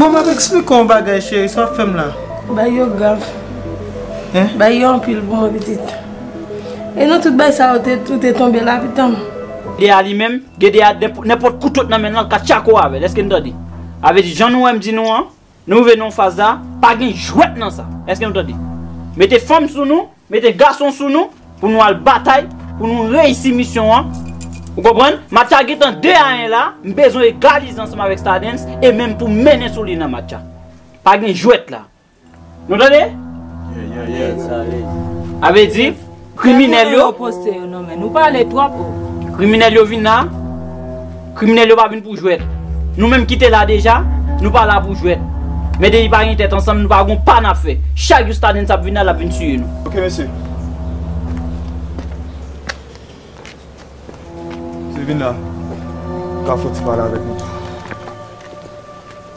Bon map eksplike w yon bagay cheri, sa wap fè m la? Bagay yo grav. Bagay yo anpil pou mwen pitit. E nan tout bagay sa yo ou te tonbe la pitan m? Gedea li menm, Gedea nenpòt kouto k nan men l lan l ka tchako avè l, èske n tande? Sa vle di jan nou wè m di nou an. Nou vle non faz la, pa gen jwèt nan sa. Eske nou tande? Mete fanm sou nou, mete gason sou nou pou nou al batay, pou nou reyisi misyon an. Ou konprann? Match a gentan 2 a 1 la, m bezwen egalize ansanm avèk Stardens e menm pou m mennen sou li nan match a. Pa gen jwèt la. Nou tande? Alèz, alèz. A vle di. Kriminel yo. Kriminel yo vin la. Kriminel yo pa vin pou jwet. Nou menm ki te la deja. Nou pa la pou jwet. Men depi pa gen tet ansanm nou pa gon pa nap fe. Chak jou stadens ap vin la lap vin tiye nou. Ok mesye. Mesye vin la. Kafou ti pale avek nou.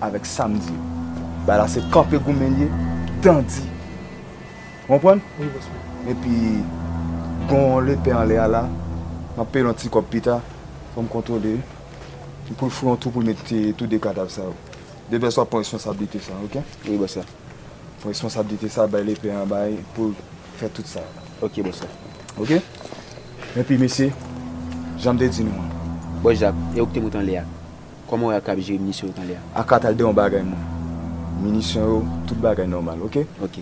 avèk sam di yo. Bagay la se kanpe goumen liye dan di ou konprann epi gon lepè anlè a la map peyel yon ti kòb pita fòm kontwole li poul foure yon twou poul met tou 2 kadav sa yo de vès wap pran responsablite sa ok wi bòs la pran responsablite sa bay lepè an bay poul fè tout sa ok bòs la ok epi mesye janm te di nou an. Bòs Jak e ou kite moute anlè a. Koman ou wè ak ap jere minisyon yo kounye a? Ak ap tande yon bagay mwen. Minisyon yo tout bagay nòmal ok. Ok.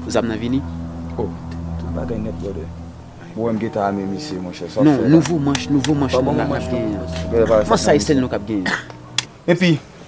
Zam nan vini? Oh tout bagay nèt brother. Ou wèm gentan ame misye monchè sa wap fè la. Non nouvo manch nouvo manch nap genyen an. Kman sa e sèl nou kap genyen? Epi.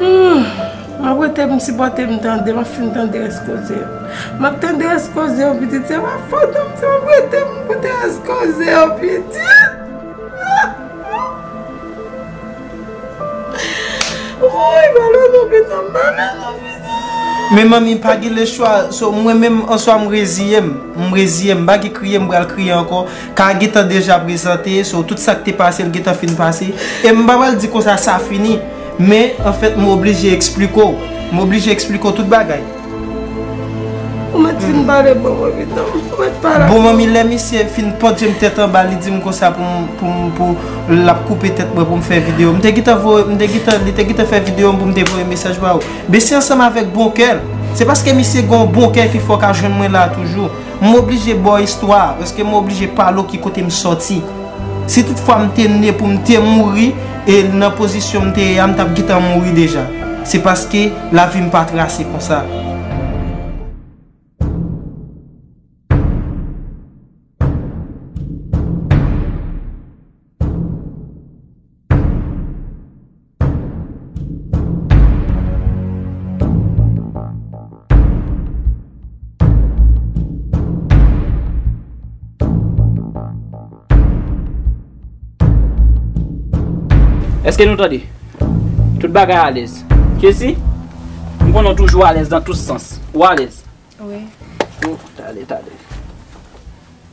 Humm map rete pou m sipòte m tande map fin tande rès koze yo map tande rès koze yo pitit se pa fòt ou m se map rete pou m koute rès koze yo pitit wouyy balo nou pitanm balo nou pitanm. Men manmi pa gen lechwa so mwen menm answa m reziye m m reziye m m pa gen kriye m pral kriye ankò Ka gentan deja prezante, so tout sak te pase l gentan fin pase. E m pa pral di konsa sa fini, men an fèt m oblije eksplike w. M oblije eksplike w tout bagay. Ou mèt fin pale pou mwen pito. Ou mèt pale ak mwen. Bon manmi lè misye fin pot je m tèt anba li di m konsa pou m, pou m, pou l ap koupe tèt mwen pou m fè videyo. M te gentan voye, m te gentan, li te gentan fè videyo m pou m te voye mesaj ba ou. Mesi ansanm avèk bon kè l. Se paske misye gen yon bon kè ki fè w ka jwenn mwen la toujou. M oblije ba w istwa a, paske m oblije pale w ki kote m soti. Si tout fwa m te ne pou m te mouri, e nan pozisyon m te ye a m t ap gentan mouri deja. Se paske lavi m pa trase konsa. Eske nou tande? Tout bagay alèz. Kessy, m konnen w toujou alèz nan tout sans. Ou alèz? Wi. Tande, tande.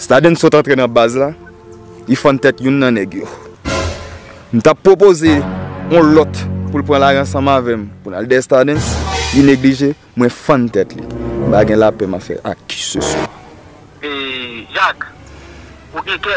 Staden sot antre nan baz la, li fann tèt youn nan nèg yo. M t ap pwopoze yon lòt pou l pran lari ansanm avè m pou n al dèyè Staden, li neglije, mwen fann tèt li. M pa gen lapè m ap fè ak kiseswa. Yak, Ou gen kè.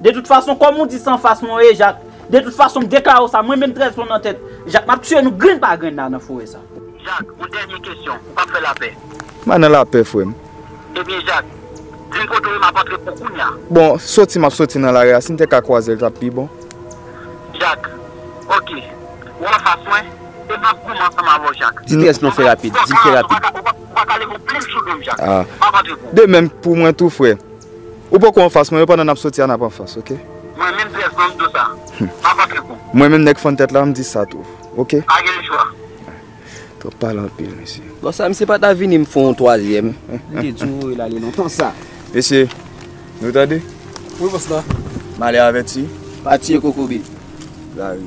De tout fason kòm ou di san fas mwen ye jak de tout fason m deklare w sa mwen menm 13 plon nan tèt jak map tiye nou grenn pa grenn la nan forè sa. Jak, yon dènye kesyon, ou pap fè lapè? Mwen nan lapè frè m. Ebyen jak, di m kote w ye map antre pou kounya. Bon, soti map soti nan lari a si n te ka kwaze l tap pi bon. Jak, ok, ou anfas mwen e map goumen ansanm avè w jak. Di 13 plon fè rapid, di l fè rapid. Ou paka leve yon plim sou do m jak, map antre pou w. De menm pou mwen tou frè. Ou poko anfas mwen yo pandan nap soti a nap anfas ok. Mwen menm pyès banm do sa. Map antre kou. Mwen menm nèg fann tèt la m di sa tou ok. Pa gen chwa. Twòp pale anpil mesye. Bon sa misye pata vini m fon yon twazyèm. M te di w voye l ale lontan sa. Mesye nou tande. Wi boss la. Male avèti. Pa tiye kokobe. Lari.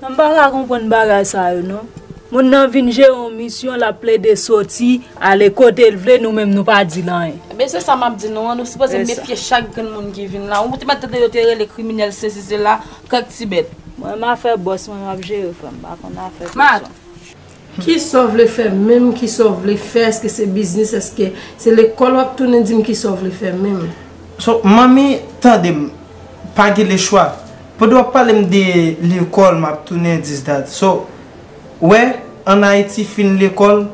Mwen pa ka konprann bagay sa yo non. Moun nan vin jere yon misyon lap plede soti ale kotel vle nou menm nou pa dil anyen. Ebyen se sa map di nou an nou sipoze mefye chak grenn moun ki vin la ou te mèt tande yo te rele kriminèl sesi sela kèk ti bèt. Mwen m afè bòs mwen map jere frèm m pa konn afè pèsòn. Kisaw vle fè menm kisaw vle fè eske se biznis eske se lekòl wap tounen dim kisaw vle fè menm. So manmi tandem pa gen le chwa pwede wap palem de lekòl map tounen dis dat so wè an ayiti fin lekòl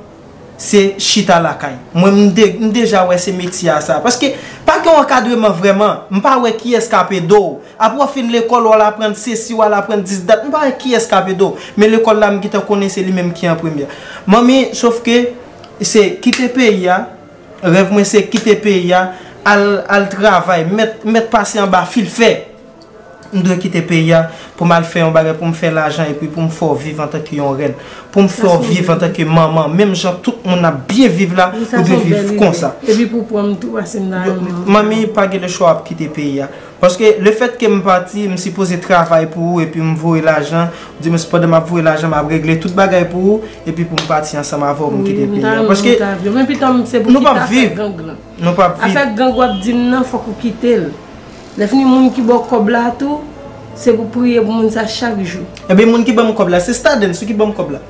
se chita lakay mwen mdeja wè se metye a sa paske pa gen ankadreman vrèman mpa wè kiyès kap edew Apre w fin lekòl w al aprann sesi w al aprann dis dat m pa wè kiyès k ap ede w men lekòl la m gentan konnen se li menm ki an premye Manmi sof ke se kite peyi a rèv mwen se kite peyi a al al travay mèt mèt pase anba fil fè m dwe kite peyi a pou m al fè yon bagay pou m fè lajan epi pou m fè w viv antanke yon rèn pou m fè w viv antanke manman menm jan tout moun ap byen viv la ou dwe viv konsa Manmi pa gen lechwa w ap kite peyi a Paske le fèt ke m pati, m sipoze travay pou ou epi m voye lajan, oudimwens pandan m ap voye lajan m ap regle tout bagay pou ou, epi pou m pati ansanm avè w m kite peyi a. Paske nou p ap viv. Nou p ap viv. Afè gang w ap di m nan fòk ou kite l. Lèfini moun ki ba w kòb la tou, se pou priye pou moun sa chak jou. Ebyen moun ki ban m kòb la, se Stadens wi ki ban m kòb la.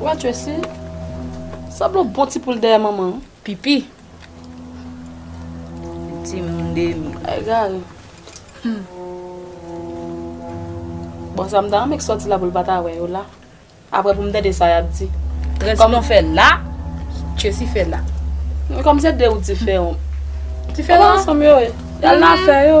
Wè Tracy sanble yon bon ti poul dèyè manman an. Pipi. Yon ti moun demi. Egare. Bon sa m ta renmen ki sòti la pou l pa ta wè yo la. Aprè pou m tande sa y ap di. Tracy konn fè la, Tracy fè la. Men kòm se de ou diferan. Diferan? Yo pa ansanm yo ye. Y al nan afè yo.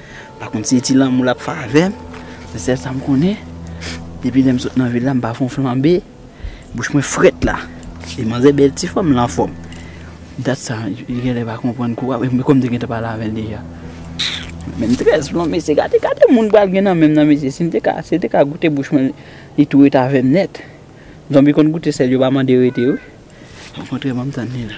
Pa kont se ti lanmou lap fè avèm, se sèl sam konnen, depi lèm sot nan vil la m pa fon flanbe, bouch mwen frèt la, e manzè bèl ti fanm l anfòm, dat sa li genlè pa konprann kou a, men kòm te gentan pale avèl deja. Menm 13 plon mesye gade gade moun pral gen nan menm nan mesye sim te ka sil te ka goute bouch mwen li tou ret avèm nèt zonbi konn goute sèl yo pa mande rete wi okontrè banm tann li la.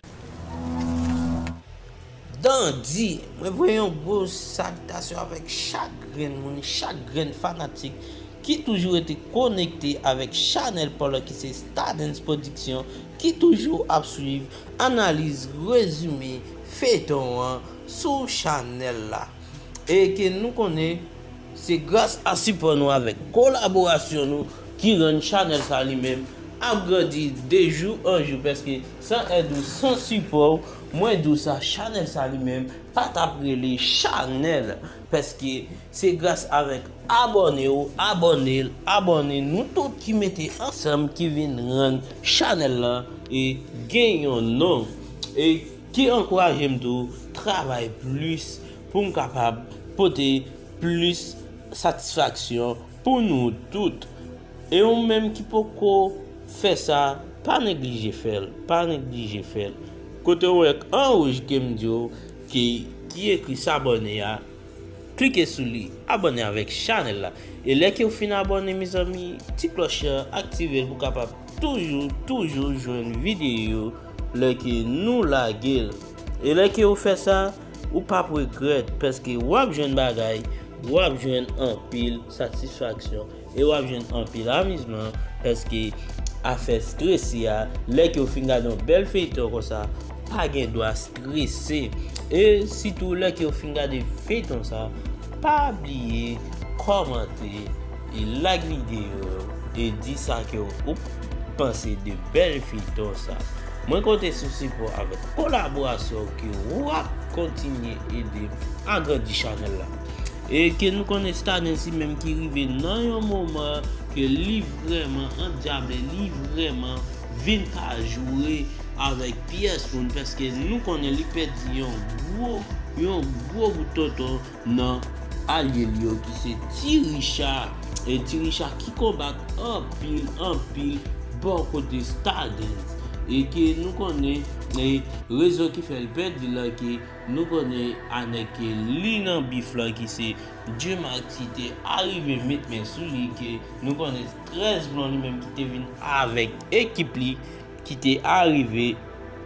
Dandi, mwen voye yon gwo salitasyon avèk chak grenn moun, chak grenn fanatik ki toujou rete konekte avèk chanèl pa w lan ki se Stardens Production, ki toujou ap swiv analiz, rezime feyton an sou chanèl la. E ke nou konnen se gras a sipò nou avèk kolaborasyon nou ki rann chanèl sa li menm ap grandi de jou an jou paske san èd ou, san sipò w, Mwen di w sa chanèl sa li menm pa tap rele chanèl pèske se gras avèk abòne w abòne l abòne nou tout ki mete ansanm ki vin rann chanèl lan e gen yon non e ki ankouraje m tou travay plis pou m kapab pote plis satisfaksyon Pou nou tout. E ou menm ki poko fè sa pa neglije fèl, pa neglije fèl. Kote ou wè an rouj kem diw ki ki ekri sabone a klike sou li abone avèk chanèl la e lè kew fin abone mezanmi ti klòch la aktivel pou kapab toujou toujou jwenn videyo lè ke nou lagel e lè kew fè sa Ou pap regrèt paske wap jwenn bagay, wap jwenn anpil satisfaksyon e wap jwenn anpil amizman paske afè strese a lè ke ou fin gade yon bèl feyton konsa ou pa gen dwa strese e sitou lè ke ou fin gade feyton sa pa bliye kòmante E like video yo e di sa ke ou panse de bel feyton sa. Mwen konte sou sipò avèk kolaborasyon ou ke wap kontinye edem agrandi chanèl la. E ke nou konnen Stadens menm ki rive nan yon moman ke li vrèman andyable, li vrèman vin pa joure avèk pyès moun paske nou konnen li pèdi yon gwo, yon gwo bout tonton. nan alye li yo ki se Ti Richa e Ti Richa ki konbat anpil anpil bò kote Stardens e ke nou konnen e rezon ki fè l pèdi l lan ke nou konnen a nèg ke li nan bif lan ki se Dye Mak ki te arive met men sou li ke nou konnen 13 blon li menm ki te vin avèk ekip li ki te arive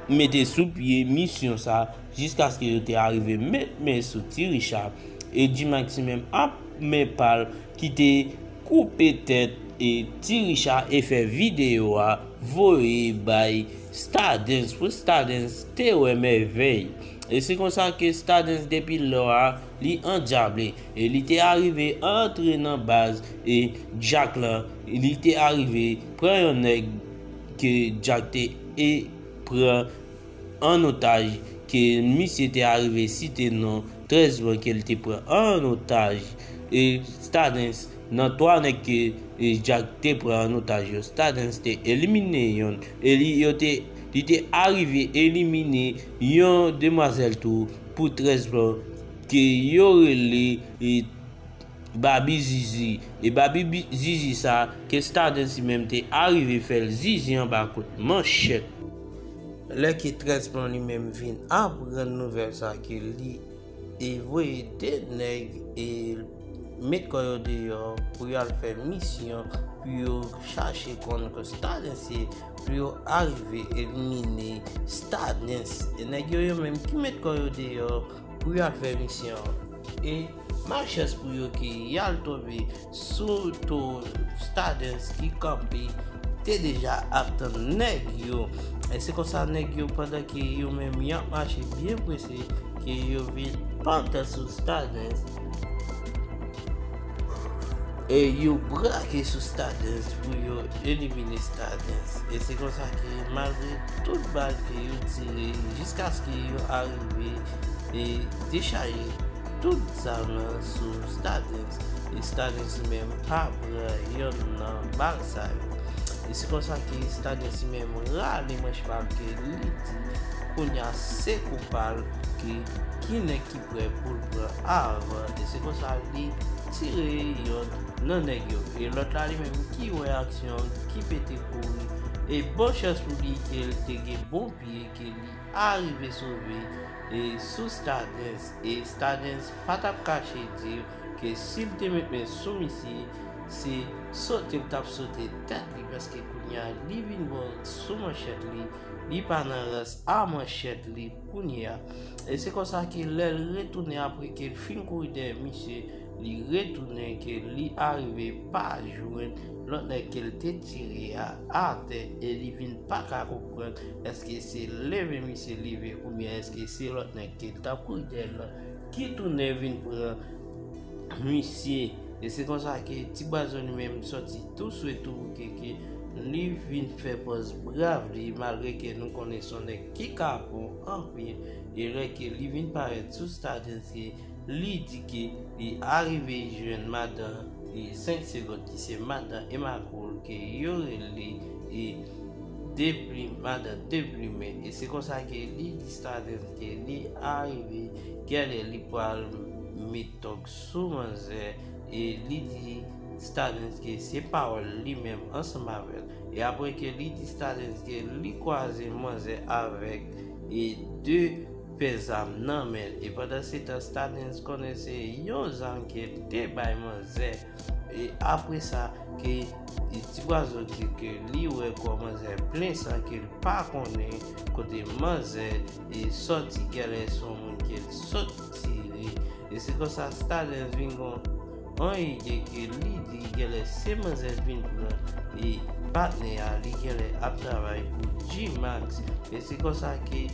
mete sou pye misyon sa. jiskaske yo te arive met men sou Ti Richa e Gmaxi menm ap men pa l ki te koupe tèt Ti Richa e fè videyo a voye bay Stardens pou Stardens te wè mèvèy e se konsa ke Stardens depi lò a li andjable e li te arive antre nan baz e Jack lan li te arive pran yon nèg ke Jack te pran an otaj ke misye te arive site non 13 moun ke li te pran an otaj e Stardens nan 3 nèg ke Jack te pran an otaj yo Stardens te elimine yonn e li yo te li te arive elimine yon demwazèl tou pou 13 moun ke yo rele. Babi zizi e babi zizi sa ke staden si menm te arive fèl zizi anba kout manchet. Lè ke tres blanc li menm vin aprann nouvel sa ke li e voye 2 nèg e met kò yo deyò pou yo al fè misyon pou yo chache konn ke staden se pou yo arive elimine staden e nèg yo yo menm ki met kò yo deyò pou yo al fè misyon e Malchans pou yo ke y al tonbe sou towo Stardens ki kanpe te deja ap tann nèg yo. Se konsa nèg yo pandan ke yo menm y ap mache byen prese ke yo vin pantan sou Stardens e yo brake sou Stardens pou yo elimine Stardens. E se konsa ke malgre tout bal ke yo tire jiskaske yo arive e dechaje Tout zamen l sou Stardens e Stardens li menm pa pran yonn nan bal sa yo. E se konsa ke Stardens li menm rale manch pa l ke li di kounya se kou pa l ke ki nèg ki prè pou l pran avan e se konsa li tire yonn nan nèg yo e lòt la li menm ki wè aksyon an ki pete kouri e bon chans pou li ke l te gen bon pye ke li arive sove e sou Stardens. E Stadens pa t ap kache di w ke si l te met men sou misye, se sote l t ap sote tèt li paske kounye a li vin bo sou manchèt li, li pa nan rans a manchèt li kounye a. E se konsa ke lè l retounen apre ke l fin kouri dèyè misye, li retounen ke li arive pa jwenn lòt nèg ke l te tire a atè e li vin pa ka Konprann eske se leve misye leve oubyen eske se lòt nèg ki tankou Jay lan ki tounen vin pran misye e se konsa ke ti bwazo li menm sòti tou swe tou bouke ke li vin fè pòz brav li malgre ke nou konnen son nèg ki kapon anpil e lè ke li vin parèt sou stadens ke Li di ke li arive jwenn madan li 5 segond ki se madan Emma Cole ke yo rele e Deplim madan Deplime e se konsa ke li di Stardens ke li arive gen lè li pwal met tòg sou manzè e li di Stardens ke se pawòl li menm ansanm avèl e apre ke li di Stardens ke li kwaze manzè avèk e 2 pè zam nan menl e pandan setan stadens konnen se yon zam ke te bay manzè e apresa ke tibwazo di ke li wè kò manzè plen san kel pa konnen kote manzè sòti gèlè son moun kel sot tire e se konsa stadens vin gon An e de ke li di genlè se manzè k vin pran e patnè a li genlè ap travay pou Gmax e se konsa ke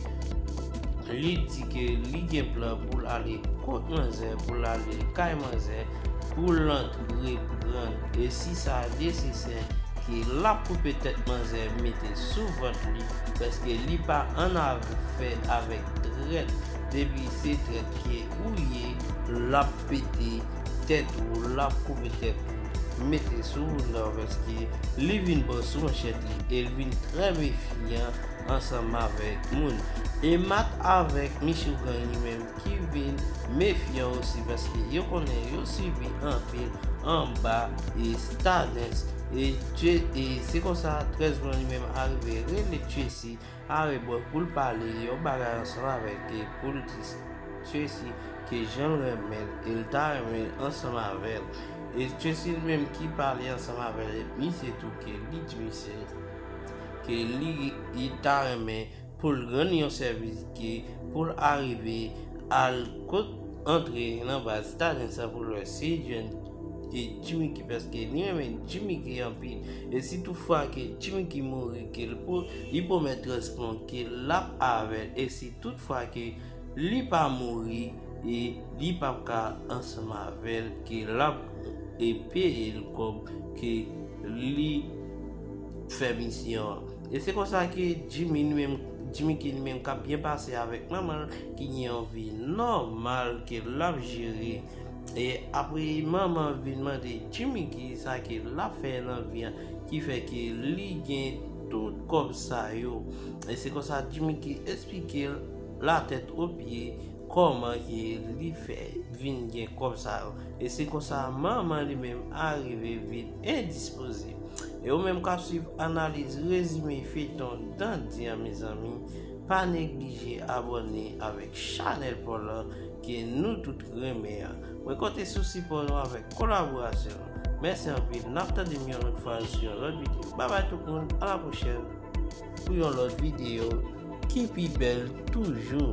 li di ke li gen plan poul ale kot manzè poul ale kay manzè poul antre pranl e si sa nesesè ke lap koupe tèt manzè mete sou vant li paske li pa annafè avèk trèt depi se trèt ke ou ye lap Pete tèt ou lap koupe tèt ou mete sou ou nan paske li vin pran sou manchèt li el vin trè mefyan ansanm avèk moun e mat avèk michou gang li menm ki vin mefyan osi paske yo konnen yo sibi anpil anba e stadens e tye e se konsa 13 blan li menm arive rele tyesi Are bwe poul pale yon bagay ansanm avek e poul di Tracy ke janl renmenl el ta renmen ansanm avel e Tracy li menm ki pale ansanm avel e misye tou ke li di misye ke li ta renmen poul rann yon sevis ke poul arive al kot antre nan baz tanin sa poul we si jwenn e Jimmiky paske li renmen Jimmiky anpil e si tou fwa ke Jimmiky mouri Li pwomèt Trèsplon ke l ap avè l e si tout fwa ke li pa mouri e li pap ka ansanm avè l ke l ap peye l kòb ke li fè misyon an. E se konsa ke Jimmy ki li menm k ap byen pase avèk manman l ki gen yon vi nòmal ke l ap jere e apre manman vin mande Jimmy kisa ke l ap fè nan vi an Ki fè ke li gen tout kòb sa yo. E se konsa Jimmy Gee esplike l la tèt o pye kòman ke li fè vin gen kòb sa yo. E se konsa manman li menm arive vin endispoze. E ou menm k ap swiv analiz rezime feyton Dandi an mezanmi, pa neglije abòne avèk chanèl paw lan ke nou tout renmen an. Mwen konte sou sipò nou avèk kolaborasyon nou. Mèsi anpil nap tande m yon lòt fwa sou yon lòt video babay tout moun a la pwochèn pou yon lòt video ki pi bèl toujou.